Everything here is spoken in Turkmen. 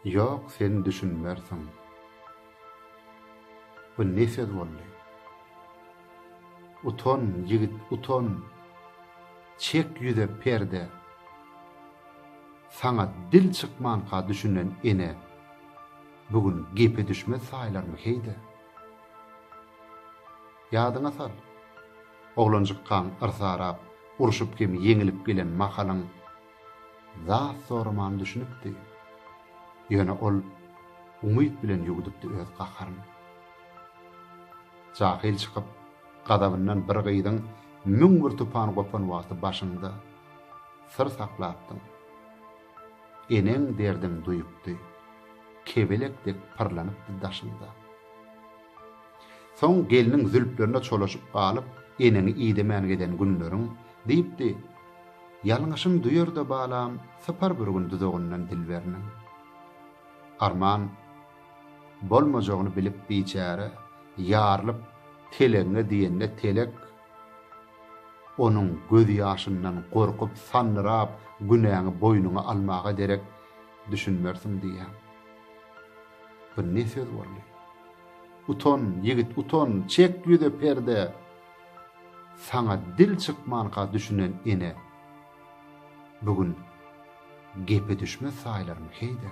Ýok sen düşünmersiň. Bu ne söz boldy. Utan ýigit utan. Çek ýüze perde. Saňa dil çykmanka düşünen ene bu gün gepe düşmez saýlarmy heýde. Ýadyňa sal. Oglanjykkaň yrsarap urşup hem ýeňilip gelen mahalyň Zat soraman düşünipdi. Ýöne ol umyt bilen ýuwdupdy öz gaharyny. Jahyl çykyp, gazabyndan bir gyzyň müň bir tupan gopan wagty başyňda syr saklapdyň. Eneň derdiň duýupdy. Kebelek dek pyrlanypdy daşyňda. Soň gelniň zülplerine çolaşyp galyp, Eneňi idemän gezen günleriň, diýipdi. Ýalňyşyn duýar-da balam, sypar bir gün duzagyndan dilberiniň. Arman bolmajagyny bilip biçäre, ýarylyp telegiňe diýende telek onuň gözýaşyndan gorkup, sandyrap, günäňi boýnuňa almaga derek düşünmersiň diýýän. Bu ne söz boldy? Utan, ýigit, utan, çek ýüze perde! Saňa dil çykmanka düşünen ene, bu gün gepe düşmez saýlarmy, heý-de!